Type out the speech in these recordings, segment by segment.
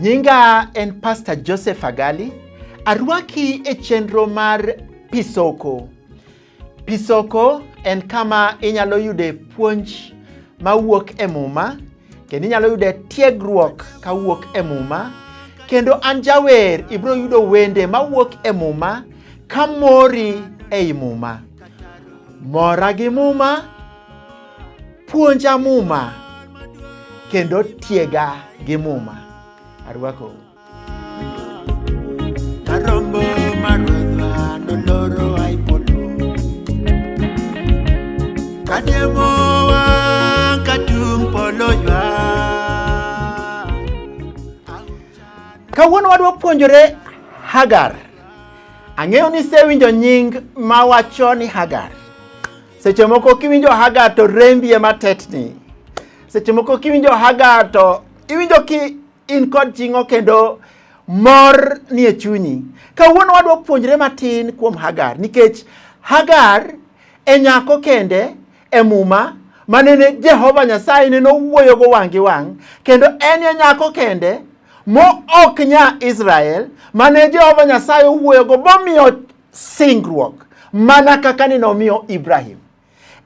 Nyinga en Pastor Joseph Agali. Arwaki e chenro mar Pisoko. Pisoko en kama inyalo yude puonj mawuok e Muma kendo inyalo yude tiegruok kawuok e Muma kendo an jawer ibiro yudo wende mawuok e Muma ka mori ei Muma. Mora gi Muma, puonja Muma kendo tiega gi Muma. Arwakou. Kawuono wadwa puonjore Hagar. Ang'eyo ni isewinjo nying ma wacho ni Hagar. Seche moko kiwinjo Hagar to rembi ema tetni. Seche moko kiwinjo Hagar to iwinjo ki In kod ching'o kendo mor nie chunyi. Kawuono wadwa puonjre matin kuom Hagar nikech Hagar e nyako kende e muma manene Jehova Nyasaye nene owuoyogo wang' gi wang' kendo en e nyako kende mo ok nya Israel mane Jehova Nyasaye owuoyogo bomiyo singruok mana kaka ni nomiyo Ibrahim.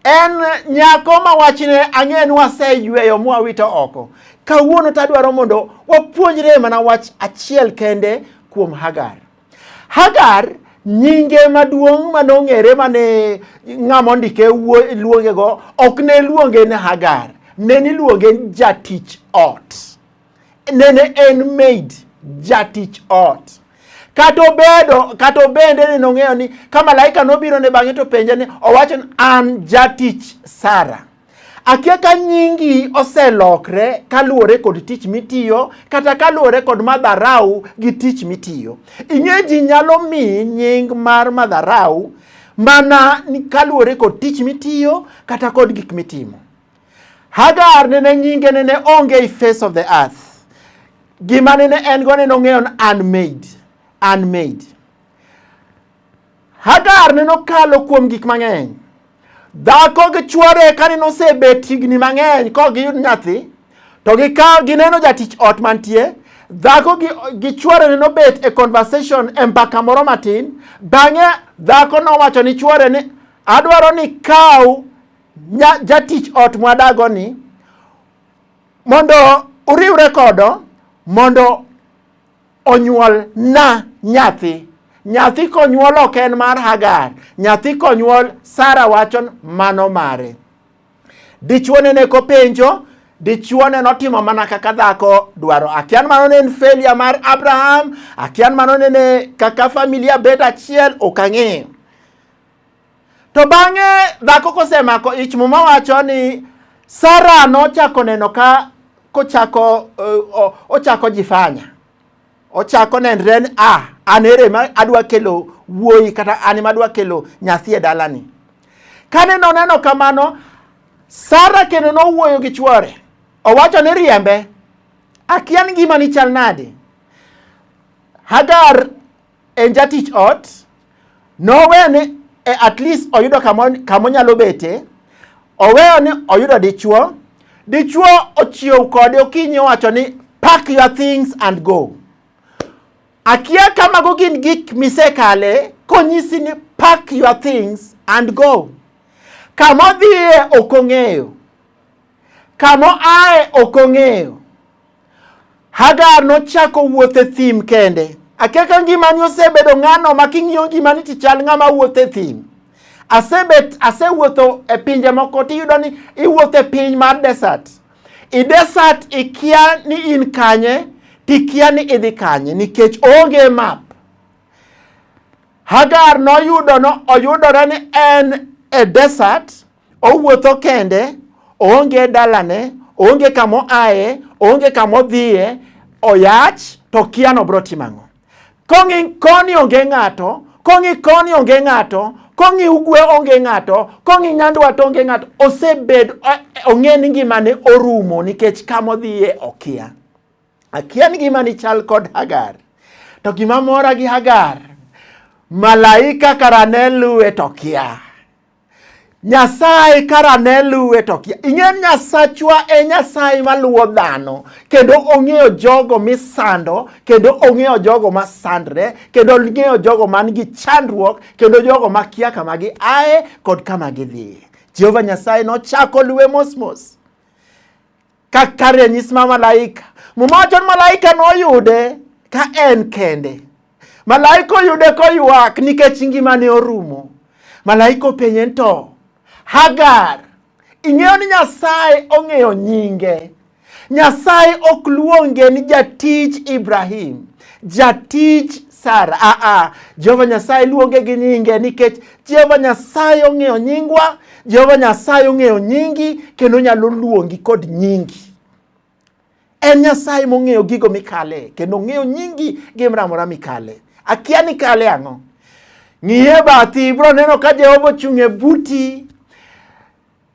En nyako ma wachne ang'eyo ni waseyweyo mwawito oko. Kawuono to adwaro mondo wapuonjre mana wach achiel kende kuom Hagar. Hagar nyinge maduong' ma nong'ere ma ne ng'ama ondike luongego ok ne luonge ni Hagar, ne niluonge jatich ot. Nene en maid, jatich ot. Kata obedo, kata obende ni nong'eyo ni ka malaika nobiro ne bang'e to penje ni owacho ni an jatich Sara. Akia ka nyingi oselokre kaluwore kod tich mitiyo kata kaluwore kod madharau gi tich mitiyo. Ing'e ji nyalo mi nying mar madharau mana kaluwore kod tich mitiyo kata kod gik mitimo. Hagar nene nyinge nene onge i face of the earth. Gima nene en go nene ong'eyo ni unmade, unmade. Hagar nene okalo kuom gik mang'eny. Dhako gi chwore ka nene osebet higni mang'eny ka ok giyud nyathi, to gikawo gineno jatich ot mantie, dhako gi, gi chwore nene obet e conversation e mbaka moro matin. Bang'e dhako nowacho ni chwore ni adwaro ni kaw jatich ot mwadago ni mondo uriwre kodo mondo onyuol na nyathi nyathi konyuol ok en mar hagar nyathi konyuol sara wacho mano mare dichuone ne kopenjo dichuone notimo mana kaka dhako dwaro akian mano ne en failure mar abraham akian mano ne kaka familia bet achiel ok ang'eyo To bang'e dhako kosemako ich, Muma wacho ni Sara nochako neno ka kochako uh, ochako jifanya ochako nenre ni a ah, an ere ma adwa kelo wuoyi kata an ma adwa kelo nyathi e dalani. Kane noneno kamano, Sara kendo nowuoyo gi chwore, owacho ni riembe, akian gima ni chal nade. Hagar en jatich ot, nowene e at least oyudo kama onyalo bete, oweyo ni oyudo dichuo, dichuo ochiew kode okinyi owacho ni pack your things and go. Akia ka mago gin gik misekale konyisi ni pack your things and go. Kama odhiye ok ong'eyo, kama oaye ok ong'eyo Hagar nochako wuoth e thim kende. Akia ka ngimani osebedo ng'ano ma king'iyo ngimani to chal ng'ama wuotho e thim. Asebet asewuotho e pinje moko to iyudo ni iwuotho e piny mar desert. I desert ikia ni in kanye to ikia ni idhi kanye nikech onge map. Hagar noyudo no oyudore ni en e desert Owuotho kende, oonge e dalane, oonge kama oaye, oonge kama odhiye, oyach to okia ni obiro timo ang'o. Kong'i koni onge ng'ato, kong'i koni onge ng'ato, kong'i ugwe onge ng'ato, kong'i nyandwat onge ng'ato. Osebed ong'e ni ngimane orumo nikech kama odhiye okia. Akia ni ngimani chal kod Hagar. To gima mora gi Hagar, malaika kara ne luwe to kia. Nyasaye kara ne luwe to kia. Ing'e Nyasachwa e Nyasaye maluwo dhano kendo ong'eyo jogo misando kendo ong'eyo jogo masandre kendo ong'eyo jogo man gi chandruok kendo jogo makia kama gi aye kod kama gidhiye. Jehova Nyasaye nochako luwe mosmos. Kaka ranyisi ma malaika, Muma wacho ni malaika noyude ka en kende. Malaika oyude koywak nikech ngimane orumo. Malaika openye ni to, Hagar, ing'eyo ni Nyasaye ong'eyo nyinge. Nyasaye ok luonge ni jatij Ibrahim, jatij Sara. Aa, Jehova Nyasaye luonge gi nyinge nikech Jehova Nyasaye ong'eyo nyingwa, Jehova Nyasaye ong'eyo nyingi kendo nyalo luongi kod nyingi. En Nyasaye mong'eyo gigo mikale kendo ong'eyo nyingi gi mramora mikale. Akia ni kale ang'o? Ng'iye bathi ibro neno ka Jehova ochung' e buti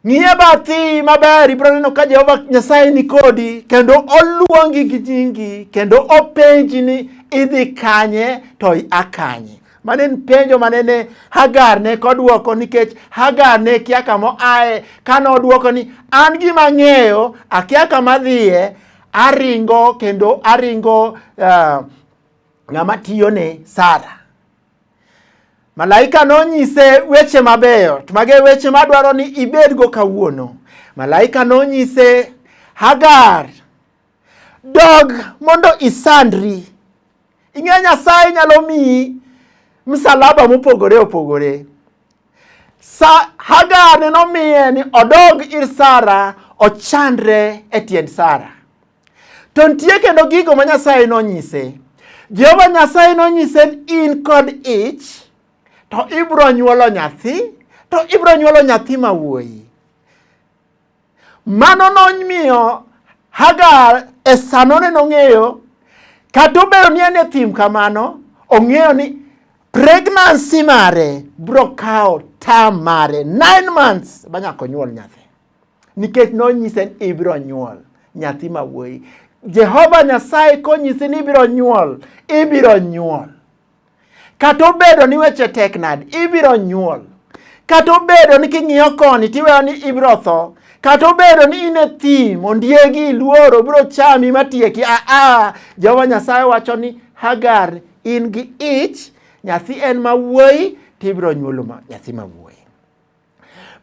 Ng'iye bathi maber, ibiro neno ka Jehova Nyasaye ni kodi kendo oluongi gi jingi kendo openji ni idhi kanye to ia kanye. Mane en penjo mane ne Hagar ne kodwoko nikech Hagar ne kia kama aye kane odwoko ni an gima ang'eyo akia kama dhiye aringo kendo aringo uh, ng'ama tiyone Sara. Malaika nonyise weche mabeyo, to mage weche madwaro ni ibedgo kawuono. Malaika nonyise Hagar, dog mondo isandri. Ing'e Nyasaye nyalo miyi msalaba mopogore opogore. Sa Hagar ne nomiye ni odog ir Sara ochandre e tiend Sara. To nitie kendo gigo ma Nyasaye nonyise. Jehova Nyasaye nonyise ni in kod ich to ibiro nyuolo nyathi to ibiro nyuolo nyathi ma wuoyi. Mano nomiyo Hagar e sanone nong'eyo kata obedo ni en e thim kamano ong'eyo ni pregnancy mare biro kawo term mare nine months ba nyaka onyuol nyathi. nikech nonyise ni ibiro nyuol nyathi ma wuoyi. Jehova Nyasaye konyisi ni ibiro nyuol, ibiro nyuol. Kata obedo ni weche tek nade, ibiro nyuol. Kata obedo ni king'iyo koni tiweyo ni ibiro tho, kata obedo ni in e thim, ondiegi, iluoro, obiro chami matieki. Aa, ah, ah, Jehova Nyasaye wacho ni Hagar in gi ich, nyathi en ma wuoyi, tibiro nyuolo nyathi ma wuoyi.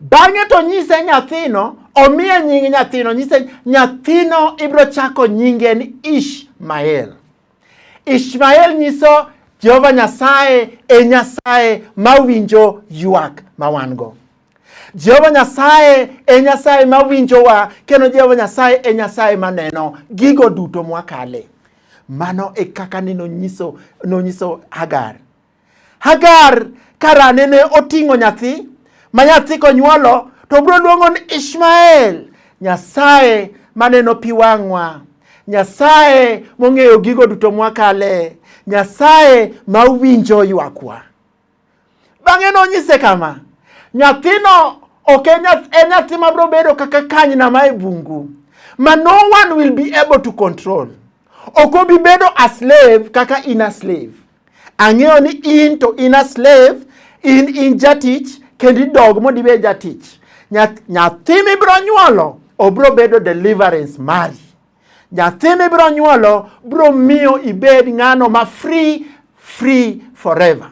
Bang'e to nyise nyathino, omiye nying nyathino, nyise nyathino ibiro chako nyinge ni Ishmael. Ishmael nyiso Jehova Nyasaye e Nyasaye mawinjo ywak ma wan-go. Jehova Nyasaye e Nyasaye mawinjowa kendo Jehova Nyasaye e Nyasaye maneno gigo duto mwakale. Mano e kaka ni nonyiso, nonyiso Hagar Hagar karane ne oting'o nyathi ma nyathi konyuolo to bro luongo ni Ishmael. Nyasaye maneno pi wang'wa, Nyasaye mong'eyo gigo duto mwakale, Nyasaye ma winjo ywakwa. Bang'e nonyise kama, nyathino ok en nyathi ma bro bedo kaka kanyna ma e bungu ma no one will be able to control. Ok obi bedo a slave kaka in a slave. Ang'eyo ni in to in a slave, in in jatich kendo idog mondo ibed jatich. Nyathi mibiro nyuolo obiro bedo deliverance mari. Nyathi mibiro nyuolo biro miyo ibed ng'ano ma free free forever.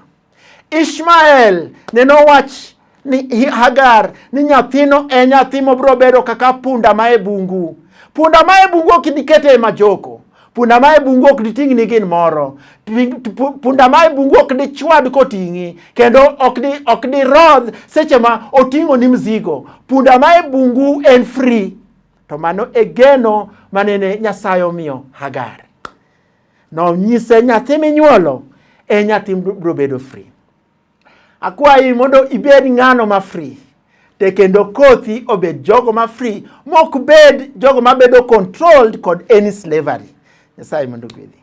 Ishmael neno wach ni Hagar ni nyathino e nyathi mobiro bedo kaka punda ma e bungu. Punda ma e bungu ok ibi kete e majoko. Punda ma e bungu ok diting' ni gin moro. Punda ma e bungu ok dichwad koting'i kendo ok di ok dirodh seche ma oting'o ni mzigo. Punda ma e bungu en free. To mano e geno manene Nyasaye omiyo Hagar. Nonyise nyathi minyuolo e nyathi biro bedo free. Akwayi mondo ibed ng'ano ma free te kendo kothi obed jogo ma free mok bed jogo ma bedo controlled kod any slavery. Nyasaye mondo gwedhi.